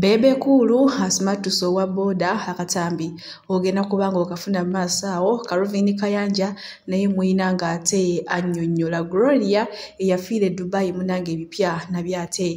Bebe Kuulu asimattuse owa boda akatambi ogenda kuba nga okafuna mu maaso awo Calvin Kayanja naye muyina ng'ate annyonnyola Gloria eyafiira e Dubai munange ebipya nabyo ate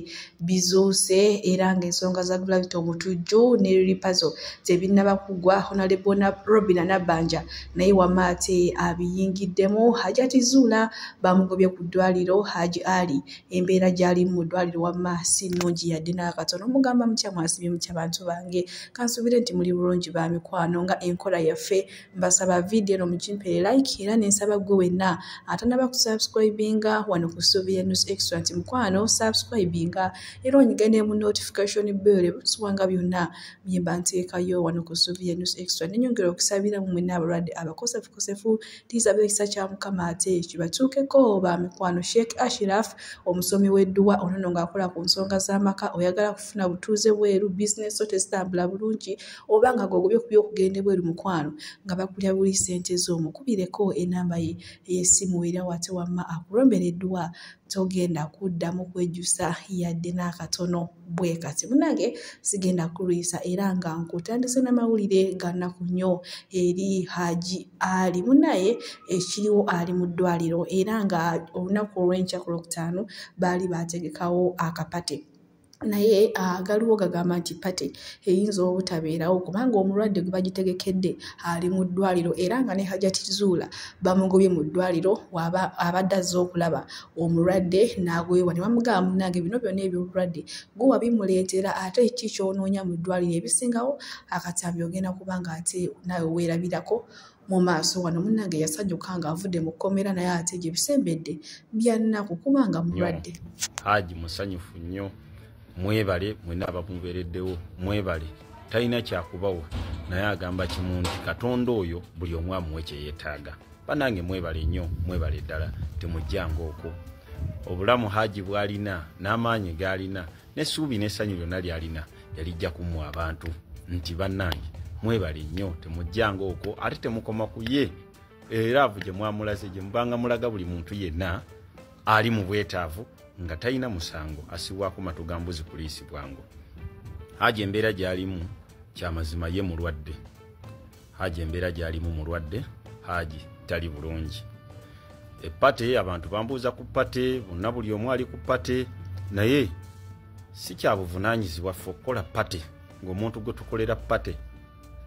bizuuse era ng'ensonga za Gravity omutujju ne Lilipazo tebinnaba kuggwa Honorable Robina Nabbanja naye wama ate abiyingiddemu Hajati Zuula bamugobye ku ddwaliro Haji Ali embeera gy'alimu mu ddwaliro wamma si nnungi yadde n'akatono mugamba mutya mwasibye mutya bantu bange kansuubire nti muli bulungi ba mikwano nga enkola yaffe mbasaba vidiyo eno mukimpere like era nensaba ggwe wenna atanaba ku subscribinga wano ku suubi ya news extra nti mukwano subscribinga era onyiga ne mu notification bell ebusubwanga byonna byemba nteekayo wano ku suubi ya news extra nenyongera okusabira mu mwena abalwadde abakosefukosefu Tulisaba ekisa kya Mukama ate kibatuukeko ba mikwano. Sheikh Ashiraf omusomi w'edduwa ono no ng'akola ku nsonga z'amaka oyagala kufuna butuuze bweru bizinesi zo tezitambula bulungi oba nga gwogobye ku by'okugenda ebweru mukwano nga bakulya buli ssente zo mukubireko enamba ye ey'essimu era wate wamma akulombera edduwa togenda kuddamu kwejusa yadde n'akatono. bwe kati munange sigenda kulwisa era nga nkutandise n'amawulire ganaku nnyo eri haji ali munaye ekiriwo ali mu ddwaliro era nga olunaku olw'enkya ku lwokutaano baali baategekawo akapate naye ah, galiwo gagamba nti pate eyinza obutabeerawo kubanga omulwadde gwe bagitegekedde ali mu ddwaliro era nga ne hajati zuula bamugobye mu ddwaliro abadde azze okulaba omulwadde n'agwewa ne bamugamba munange bino byonna ebyobulwadde gwe wabimuleetera ate ki kyonoonya mu ddwaliro ebisingawo akatambi ogenda kuba nga ate nawe weerabirako mu maaso wano munange yasanyuka nga avudde mu kkomera naye ate gye bisembedde byannaku kuba nga mulwadde haji musanyufu nnyo mwebale mwena abamubeereddewo mwebale talina kyakubawa naye agamba kimu nti katonda oyo buli omu amuwe kye yeetaaga banange mwebale nnyo mwebale ddala temujjanga okwo obulamu haji bwalina n'amaanyi gaalina n'essuubi n'essanyu lyonna lyalina yalijja ku mmwe abantu nti bannange mwebale nnyo temujjanga okwo ate temukoma ku ye era avu gye mwamulaze gye mubanga mulaga buli muntu yenna ali mu bwetaavu nga talina musango asibwako matu ga mbuzi kuliisibwango haji embeera gy'alimu kyamazima ye mulwadde haji embeera gyalimu mulwadde haji tali bulungi epate abantu bambuuza ku pate bonna buli omu ali ku pate naye si kyabuvunanyizibwa ffe okukola pate ngaomuntu gwe tukolera pate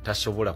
tasobola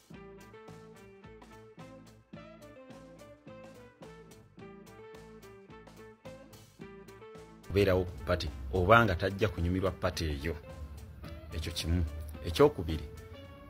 kubeerawo ku pate oba nga tajja kunyumirwa pate eyo ekyo kimu ekyokubiri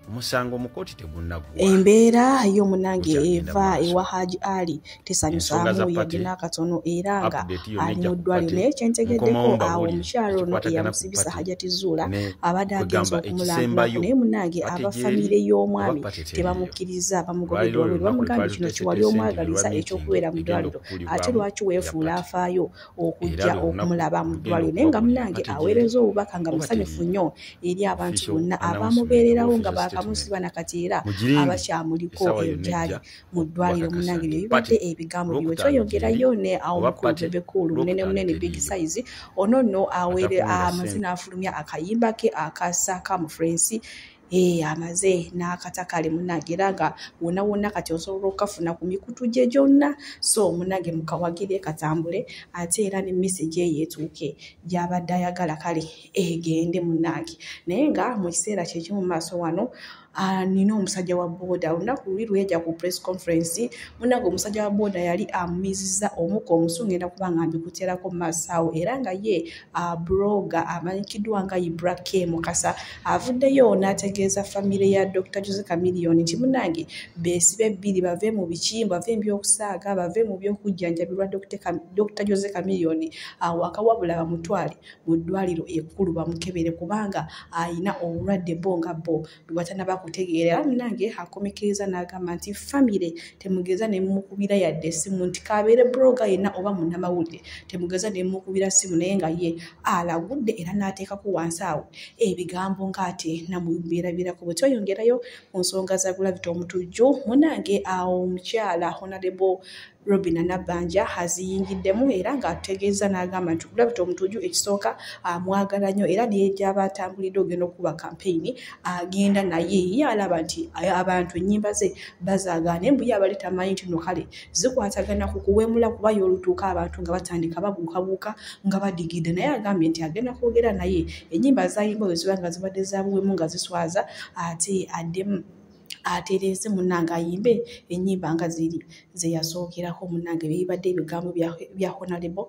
omusango mukooti tegunnagwa embeera y'omunange eva ewa haji ali tesanyusaamu yadde n'akatono era nga ali mu ddwaliro naye kyentegeddeko awo omukyalo ono eyamusibisa hajati zuula abadde agenza okumulambula naye munange aba famire y'omwami tebamukkiriza bamugobedde wabiri bamugambye kino kiwali omwagaliza ekyokubeera mu ddwaliro ate lwaki weefuula afaayo okujja okumulaba mu ddwaliro naye nga munange aweereza obubaka nga musanyufu nnyo eri abantu bonna abamubeererawo nga baakamusiba nakati era abakyamuliko ebyali mu ddwaliro munange bye bibadde ebigambo biwe kyoyogerayo ne awo mukulu bebe kuulu munene munene big size ono no awere amaze n'afulumya akayimba ke akasa ka mu frensi ee eh, amaze n'akata kale munange era nga wona wona kati osobola okukafuna ku mikutu gye gyonna so munange mukawagire katambule ate era ne message eyo etuuke gyabadde ayagala kale egende munange naye nga mu kiseera kyekimu mu maaso wano Ah, nina omusajja wa booda olunaku luli lweja ku press conference munange omusajja wa booda yali amumiziza omuka omusu ngenda kuba nga mbikuterako masawo era nga ye ah, broga amanyikiddwa nga ibra k mukasa avuddeyo n'ategeeza famire ya dr jose camilion nti munange besibe bbiri bave mu biki bave mubyokusaaga bave mu byokujjanjabirwa dr jose camilion awakawabula ah, bamutwale mu ddwaliro ekkulu bamukebere kubanga alina obulwadde bo nga bo bwebatanaba kutegeera era munange akomekiriza n'agamba nti famire temugeza nemukubira yadde essimu nti kabeere broga yenna oba munamawulire temugeza nemukubira ssimu naye nga ye alagudde era n'ateekako wansi awo ebigambo ng'ate namubeerabirako bwe tweyongerayo mu nsonga za gulavita omutujju munange awo omukyala honarebo Robina Nabbanja aziyingiddemu era ng'atutegeezza n'agamba nti Gravity Omutuju ekisooka amwagala nnyo era naye gy'aba atambulidde ogenda okukuba kampeyini agenda naye ye alaba nti abantu ennyimba ze bazaagaana embu ye abali tamanyi nti no kale zikwatagana ku kuwemula kuba y'olutuuka abantu nga batandika babuukabuuka nga badigidde naye agambye nti agenda kwogera naye ennyimba zayimba bwe ziba nga zibadde za buwemu nga ziswaza ate addemu atereeze munange ayimbe enyimba nga ziri zeyasookerako munange byebibadde ebigambo bya honalebo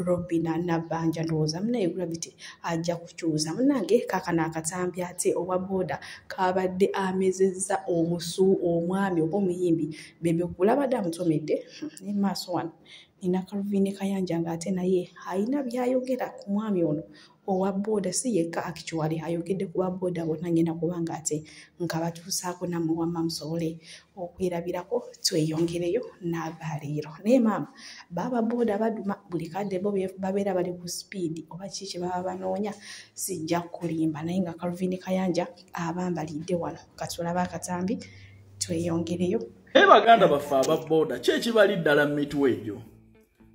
robina nabanja ndowooza munaye gravity ajja kukyuuza munange kakana akatambi ate owa booda kabadde amezezza omusu omwami oba omuyimbi bebe kulabadde amutomedde hmm, ne maaso wano nina kaluvine kayanja nga ate naye alina byayogera ku mwami ono owa boda si yekka akikiwali ayogedde ku ba boda bonna ngenda kubanga ate nkabatuusaako nammwe wamma musobole okwerabirako tweyongereyo n'agaleero naye maama baaba boda baduma buli kadde bo babeera bali ku sipiidi oba kiki kye baba banoonya sijja kulimba naye nga kalvini kayanja abambalidde wano katulaba akatambi tweyongereyo naye baganda baffe aba boda kyekibalidala mu mitwe egyo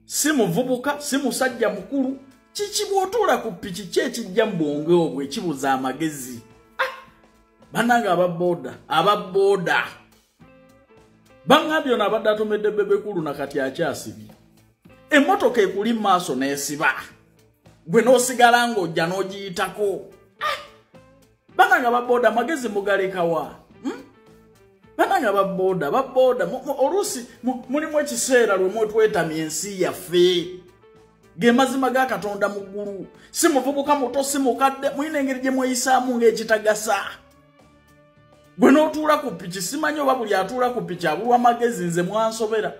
si muvubuka si musajja mukulu kiki bwotuula ku piki ki ekijja mu bwonge obwo ekibuza amagezi ah! banange ababooda ababooda baŋambye ono abadde atomedde bebekulu na kati akyasibye emmotoka ekuli mu maaso n'esiba gwe n'osigala ng'ojja n'ogiyitako banange ababoda amagezi mugalekawa hmm? banange ababoda ababoda oluusi mulimu ekiseera lwe mwetwetamya ensi yaffe ge mazima ga katonda mu ggulu si muvubuka muto si mukadde mulina engeri gye mweyisaamu ng'ekitagasa gwe n'otuula ku piki simanyi oba buli atuula ku piki abulwa amagezi nze mwansobera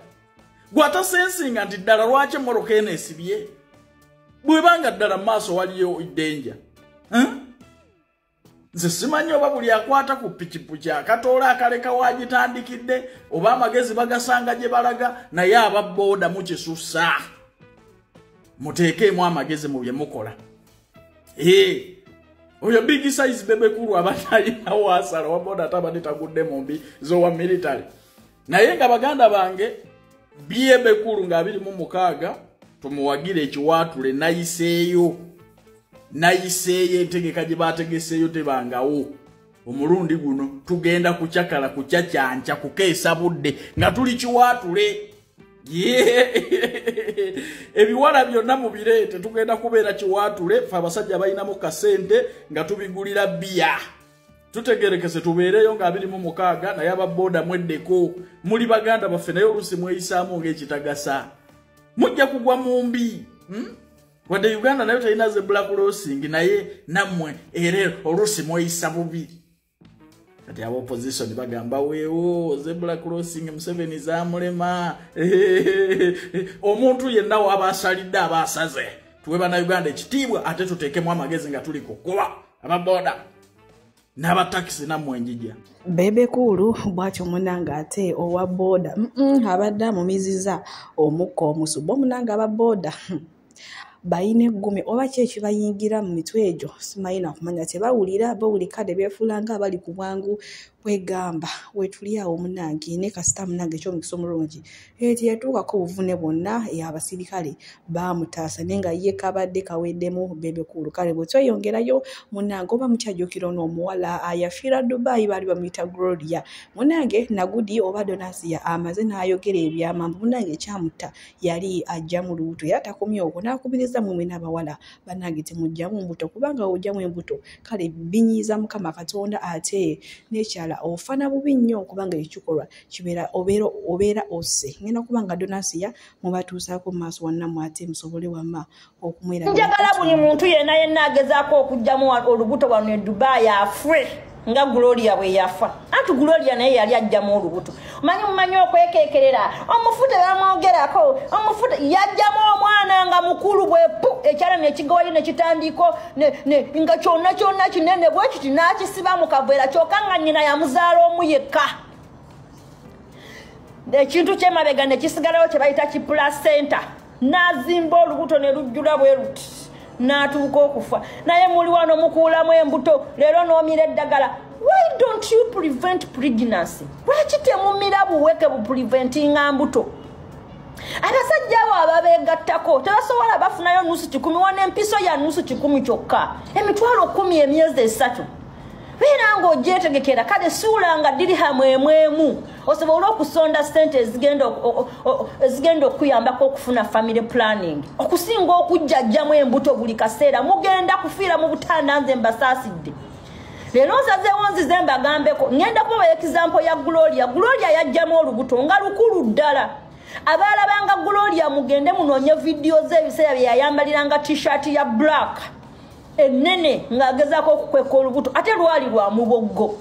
gwatasensinga nti ddala lwaki emmoloka eno esibye bweba nga ddala mu maaso waliyo denja nze simanyi oba buli akwata ku pikipiki akatoola akaleka wagitandikidde oba amagezi bagasanga gye balaga naye aba booda mukisusa muteekeemu amagezi mu bye mukola ee oyo big size bebekulu abatayina wasala wabona atabadde tagudde mumbi zowa military naye nga baganda bange byebekulu nga abiri mu mukaaga tumuwagire ekiwaatule nayiseeyo nayiseeyo entegeka gye baategeseeyo tebangawo omulundi guno tugenda kucakala kucacyanca kukeesa budde nga tuli kiwaatule ebiwala byonna mubireete tugenda kubeera kiwaatule fe abasajja balinamu kasente nga tubigulira biya tutegerekese tubeereyo nga abiri mu mukaaga naye ababooda mweddeko muli baganda baffe naye oluusi mweyisaamu ngaekitagasa mujja kugwa mu mbi hmm? wadde uganda nayo talina ze black losing naye nammwe era oluusi mweyisa bubi kati aba opposition bagamba weewo ze black losing museveni zamulema omuntu yenna waba asalidde aba asaze tuwe banauganda ekitiibwa ate tuteekemu amagezi nga tuli kukuba ababoda n'abatakisi nammwe njija bebe kuulu bwatyo munange ate owa booda abadde amumiziza omukka omusu bo munange aba booda hmm. balina eggume oba ki ekibayingira mu mitwe egyo simanyi nakumanya tebawulira bawulika ne beefuula nga abali ku bwangu kwegamba wetuli awo munange ne kasita munange ekyomukisa omulungi eh, teyatuukako obuvune bwonna abasirikale baamutaasa naye nga ye kabadde kaweddemu bebekuulu kale bwetweyongerayo munange oba mukyajukira ono omuwala ayafiira dubai baali bamuyita gloria munange nagudi oba donasia amaze n'ayogera ebyamambu munange ekyamutta yali ajja mu lubuto era takomye okwo n'akubiriza mumwe n'abawala banange temujjamu mbuto kubanga ojjamu embuto kale binyiiza mukama katonda ate nekyala ofana bubi nnyo kubanga ekikolwa kibeera obeera ose ngenda kubanga donasiya mubatuusaako mumaaso wannamu ate musobole wama okumwera njagala buli muntu yena yena agezaako okujjamu olubuto wano edubayi afre nga gloria bwe yafa anti gloria naye yali ajjamu olubuto manyi mumanyi okwekekerera omufute bamwogerako omufute yajjamu omwana nga mukulu bwepu ekyala nekigawayo nekitandiiko nga kyonna kyonna kinene bwekiti nakisiba mu kaveera kyoka nga nyina yamuzaala omu yekka ekintu kyemabega nekisigalawo kyebayita kipula center n'azimba olubuto ne lujjula bwe luti n'atuuka okufa naye muli wano mukuulamu embuto leero n'omira eddagala why don't you prevent pregnancy lwaki temumira buweke bupreventinga mbuto abasajja abo ababeegattako tebasobola bafunayo nusu kikumi wana empiso ya nusu kikumi kyokka emitwalo kumi emyezi esatu beera ng'ogyetegekera kale suulanga dirihamu emwemu osobole okusonda sente ezigenda okuyambako okufuna family planning okusinga okujjajjamu embuto buli kaseera mugenda kufiira mu butanda nze mbasaasidde leero nsazeewo nzize mbagambeko ŋenda kubawa ekizampo ya gloria gloria yajjamu olubuto nga lukulu ddala abaalabanga gloria mugende munoonye vidiyo ze ebiseera bye yayambaliranga t-shirt ya black ennene ng'agezaako okukweka olubuto ate lwali lwa muboggo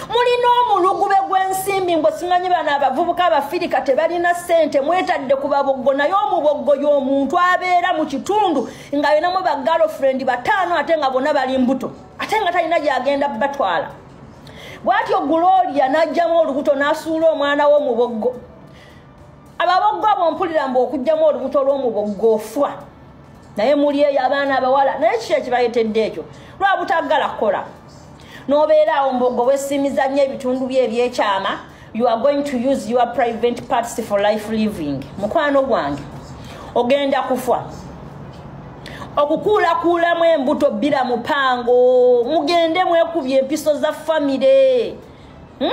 mulina omulugube gw'ensimbi mbu simanyi bano abavubuka abafirika tebalina ssente mwetadde ku baboggo naye omuboggo y'omuntu abeera mu kitundu nga yonamu ba girlfriend bataano ate nga bona bali mbuto ate nga talina gyagenda batwala bwatyo guloria n'ajjamu olubuto n'asuula omwana w'omuboggo ababoggo abo mpulira mbu okugjamu olubuto olwomuboggofwa naye muli eyo abaana abawala naye kiki ekibayetedde ekyo lwabutaggala kukola nobeera awo mbogo wesimiza nnyo ebitundu bye ebyekyama you are going to use your private parts for life living mukwano gwange ogenda kufa okukuulakuulamu embuto bbira mupango mugende mwekubye empiso za famire hmm?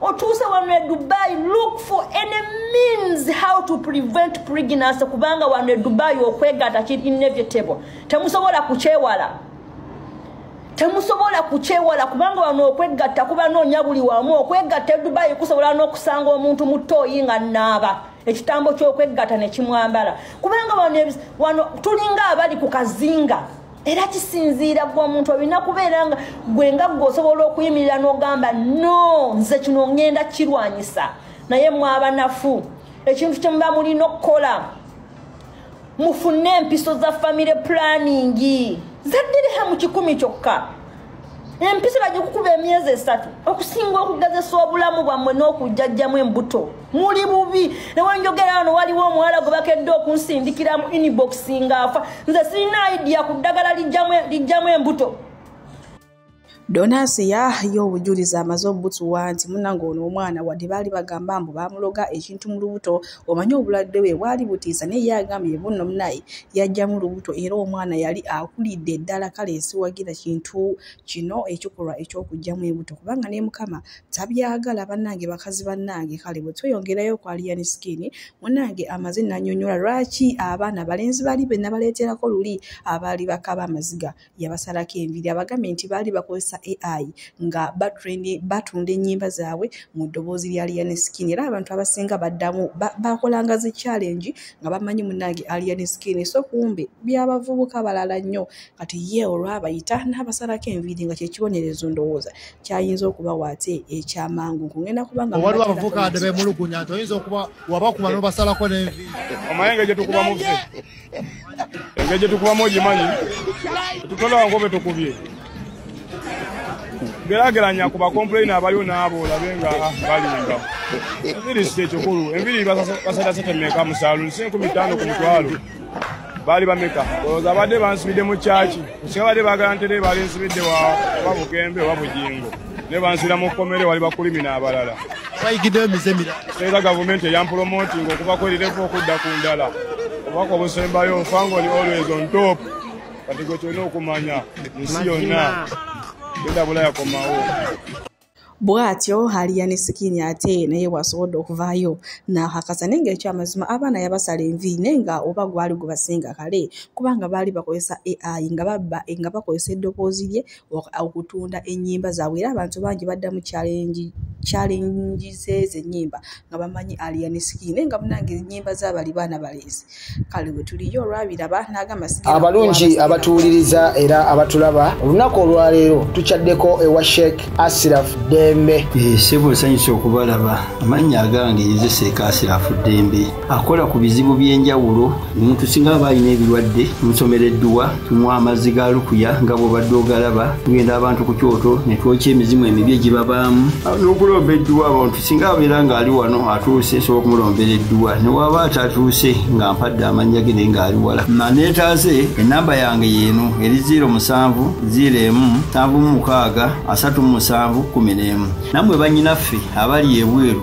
otuuse wano e dubai look for any means how to prevent pregnancy kubanga wano e dubai okwegata ki inevitable temusobola kukyewala temusobola kukyewala kubanga wano okwegatta kuba noonya buli wamu okwegatta e dubai kusobola n'okusanga omuntu mu tooyi nga naaba ekitambo ky'okwegatta ne kimwambala kubanga wano tulinga abali ku kazinga era kisinziira gwe omuntu olina kubeera nga gwe nga gwe osobola okuyimirira n'ogamba no nze kino ngenda kirwanyisa naye mwabanafu ekintu kyemuba mulina okukola mufune empiso za famire pulaningi zaddiriha mu kikumi kyokka empisi bajja okukuba emyezi esatu okusinga okugezesa obulamu bwammwe n'okujjajjamu embuto muli bubi newenjogera wano waliwo omuwala gwe bakedde okunsindikiramu inbox nga afa nze sirina idiya ku ddagala lijjamu embuto donasi yayo obujulizi amaze obutuwa nti munange ono omwana wadde baali bagamba mbu bamuloga ekintu mu lubuto omanyi obulwadde bwe bwali butiisa naye ye agambye bunno munaye yajjamu lubuto era omwana yali akulidde eddala kale esiwagira kintu kino ekikolwa ekyokugjamu ebuto kubanga ne mukama tabyagala bannange bakazi bannange kale bwe tweyongerayo okwaliyani sikini munange amaze nanyonyola lwaki abaana balenzi bali be nabaleeterako luli abaali bakaba amaziga yabasalako enviri abagambye nti baali bakozesa ai nga batunda ennyimba zaabwe mu ddoboozi lya lian skin era abantu abasinga baddamu bakolanga zi challenge nga bamanyi munange alian skin so kumbe byabavubuka balala nnyo kati ye olwabayita n'abasalako enviri nga kyekibonerezo ndowooza kyayinza okubawa ate ekyamangu nkugenda kubanga waliwo abavubuka adde bemulugunya nti oyinza okuba wabakuba nobasalako nenviri omayenga gyetukuba muve engeri gye tukubamu ogimanyi tutola ngobe tukubye gerageranya ku bakompulaina abaliwo n'abo olabe nga ah, balimba enviri si ekikulu enviri basatasetemeka mu saalu nsi enkumi ttaano ku mutwalo baali bameka olowooza abadde bansibidde mu kyaki nsinga badde baagala ntere baali nsibidde wa oba bugembe oba bugingo ne banzira mu kkomere wali bakulimi n'abalala bayigiddeyo emize mira era gavumenti eyampulomotinga okuva kwerirevu okudda ku ndala obubaka obusembayo nfangoni always on top kati gwe kyolina okumanya ensi yonna genda bulaya komawo bwatyo haliya ne sikini ate naye wasobodde okuvaayo nahakasa naye nga ekyo amazima abaana yabasala envi naye nga oba gwali gubasinga kale kubanga baali bakozesa ai nga babba nga bakozesa eddoboozi lye okutunda ennyimba zaabwe era abantu bangi badda mu challenge challenge ze zenyimba nga bamanyi alien skin naye nga munange enyimba zabali baana baleezi kale wetuliyo olwabiraba nagamba abalungi abatuwuliriza era abatulaba olunaku olwaleero tukyaddeko ewa sheik asiraf dembe eh, sebo nsanyusa okubalaba amannya agange yezeseeka asiraf dembe akola ku bizibu by'enjawulo omuntu singa aba alina ebirwadde musomera edduwa tunywa amazzi ga lukuya nga bwobadde ogalaba tugenda abantu ku kyoto ne twokya emizimu emibi egibabaamu n'okulomba edduwa abantu singa abeera ng'ali wano atuuse nsobola okumulombera edduwa ne waaba atatuuse nga mpadde amannya ge naye ng'ali wala maneetaase ennamba yange yeeno eri ziiro musanvu ziiro emu nsanvu mu mukaaga asatu mu musanvu kkumi n'emu nammwe bannyinaffe abali ebweru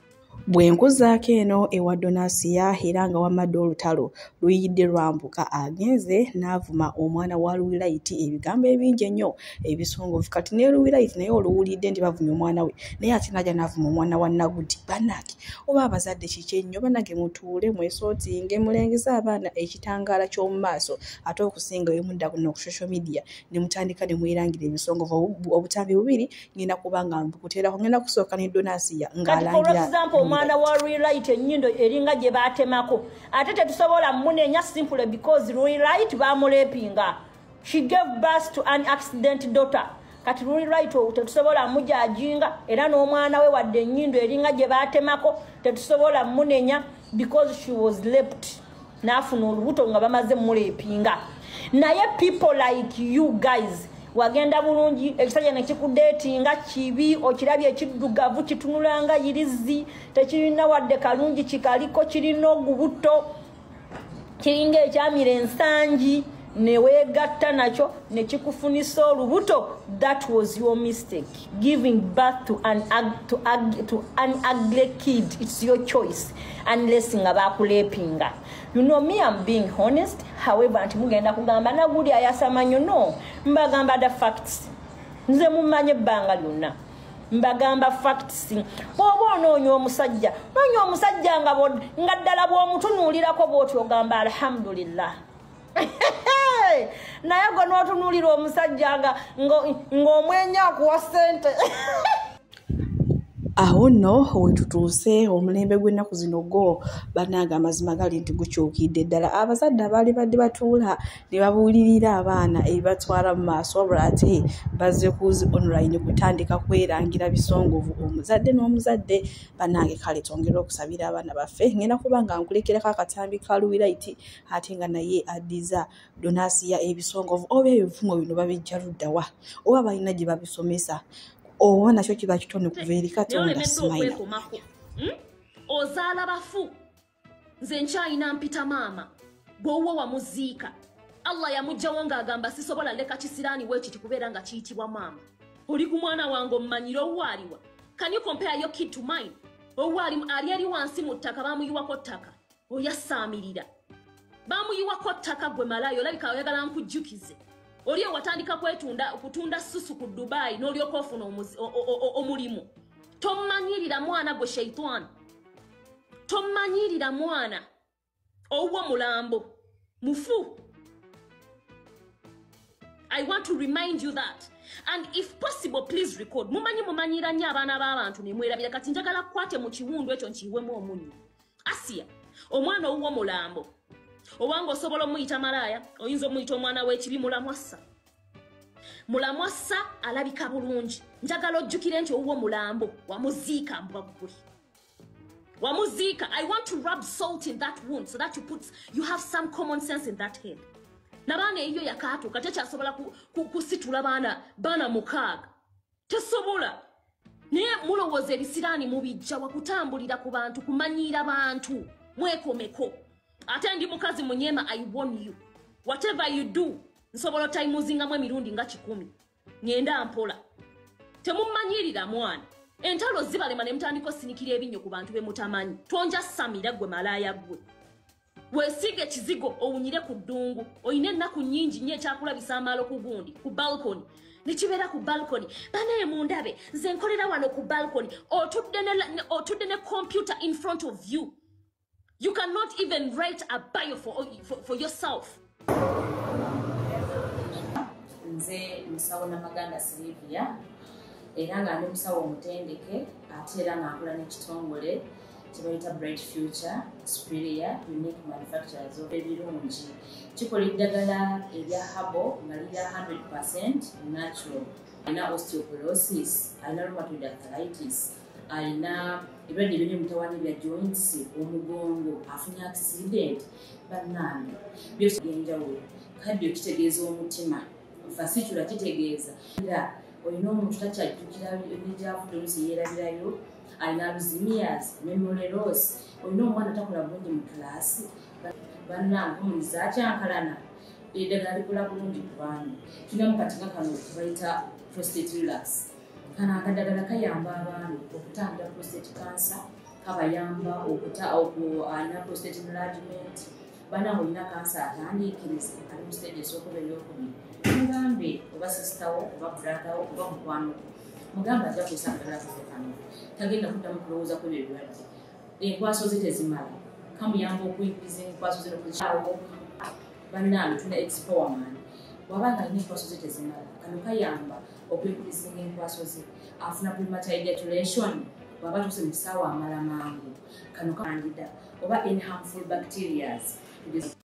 Bwe nkuzaako eno ewa Donasiya era nga wamadde olutalo luyidde lwambuka agenze n'avuma omwana wa Luwilayiti ebigambo ebingi ennyo ebisongovu kati ne Luwilayiti naye oluwulidde nti bavumye omwana we naye ate n'aja n'avuma omwana wa Nagudi bannange oba abazadde kiki ennyo bannange mutuule mwesootinge mulengeze abaana ekitangaala ky'omu maaso ate okusinga bwe mudda kuno ku social media ne mutandika ne mwerangira ebisongovu obutambi bubiri ngenda kubanga mbukuterako ngenda kusooka ne donasiya ngaalangiraexample mm. omwana wa relight enyindo eringa gye baatemako ate tetusobola munenya simple because relight bamulepinga she gave bus to an accident daughter kati luli right owo tetusobola mujajinga era n'omwana we wadde enyindo eringa gye baatemako tetusobola munenya because she was lept n'afuna olubuto nga bamaze muleepinga naye people like you guys wagenda bulungi ekisajja nekikudeetinga kibi okirabye ekiddugavu kitunulanga yirizi tekirina wadde kalungi kikaliko kirina ogubuto kiringa ekyamira ensangi newegatta nakyo nekikufunisa olubuto that was your mistake giving birth to an, to, to an ugly kid it's your choice unless nga bakulepinga you know me am being honest however nti mugenda kugamba naguli ayasamanyo no mbagamba the facts nze mumanye ebbanga lyonna mbagamba facts bwoba onoonya omusajja noonya omusajja nga ddala bwomutunuulirako bwoti ogamba alhamdulillah naye gwe n'otunuulira omusajja nga ng'omwenya akuwa ssente awo nno wetutuuse omulembe gw'ennaku zino gwo banaaga amazima gali nti gukyukidde ddala abazadde abaali badde batuula ne babuulirira abaana ebibatwala mu maaso wabula ate bazze kuzi online kutandika kwerangira bisongovu omuzadde n'omuzadde banange kale twongere okusabira abaana baffe ngenda kuba nga nkulekerako akatambi ka luwiraiti ate nga naye addiza donasiya ebisongovu oba ebivumo bino babijja luddawa oba balina gye babisomesa oba nakyo kiba kitone kuva eri katonda simaila hmm? ozaala bafu nze nkyalina mpita maama gwowo wamuziika allah yamugjawo ng'agamba sisobola leka kisiraani wekiti kubeera nga kiyitibwa maama oli ku mwana wange omumanyire owaaliwa can you compare your kid to mine owaalimu ali eri wansi mu ttaka bamuyiwako ttaka oyasaamirira bamuyiwako ttaka gwe malaayi olabika oyagala nkujjukize oli ewatandika kwetunda kutunda susu ku dubayi n'olyoka ofuna omulimu tomanyirira mwana gwe sheitani tomanyirira mwana owuwo mulambo mufu i want to remind you that and if possible please record mumanyi mumanyira nnyo abaana b'abantu nemwerabira kati njagala kukwate mu kiwundu ekyo nkiyiwemu omunyo asiya omwana owuwo mulambo obanga osobola omuyita malaaya oyinza omuyita omwana w'ekibi mulamwassa mulamwassa alabika bulungi njagala ojjukire nti owuwo mulambo wamuziika mbwa ggwe wamuziika i want to rub salt in that wound so that you put you have some common sense in that head nabaana eyiyo yakaatuuka tekyasobola kusitula baana baana mukaaga tesobola naye mulowooza ebisiraani mubijja wakutambulira ku bantu kumanyiira bantu mwekomeko ate ndi mukazi munyema i won you whatever you do nsobola otayimuzingamu emirundi nga kikumi ngenda mpola temumanyirira mwana entalo zibalema ne mutandika osinikira ebinyo ku bantu bemutamanyi tonja samira gwe malaaya gwe wesiige ekizigo owunyire ku ddungu olina ennaku nyingi nnyo ekyakulabisa amaalo ku gundi ku balkoni nekibeera ku balkoni banaye mundabe nze nkolera wano ku balkoni otudde ne computer in front of you you cannot even write a bio for, for, for yourself nze musawo namaganda silivia era nga ndi musawo omutendeke ate era nga nkola n'ekitongole kyebayita bright future superior unique manufacturers of ebirungi kikola eddagala erya habo nga lirya 100 percent natural alina osteoporosis alina rheumatoid arthritis alina ebirwadde ebiri mutawani bya joints omugongo afunye accident bannange byosi byenjawulo kaddio kitegeeza omutima fasitula kitegeeza era olina omuntu takyajjukira nebyavude olusi yeerabirayo alina aluzimias memoreros olina omwana takola bulungi mu kulaasi bannange omuliza akyankalana eddagala likola bulungi ku baana tulina mukati nga kano kebayita prostate relax kano akadagala kayamba abaami okutangira prostate cancer kabayamba okuana prostate enlargement bana olina kansa atandiikiriza ali mu stage esokuba eyokubiri mugambe oba sisitawo oba bratawo oba mukwano mugambe ajja kusa akadagala kafe kano tagenda kuddamu kulowooza ku ebyo ebirwadde enkwaso ze tezimala kamuyamba okuinkiriza enkwaso ze nokuawo bannange tuna expowerman waba nga alina enkwaso ze tezimala kano kayamba okwekulisinga enkwaso ze afuna premature ejaculation bwaba tuse mu kisaawa amala mangu kano kandida oba in harmful bacterias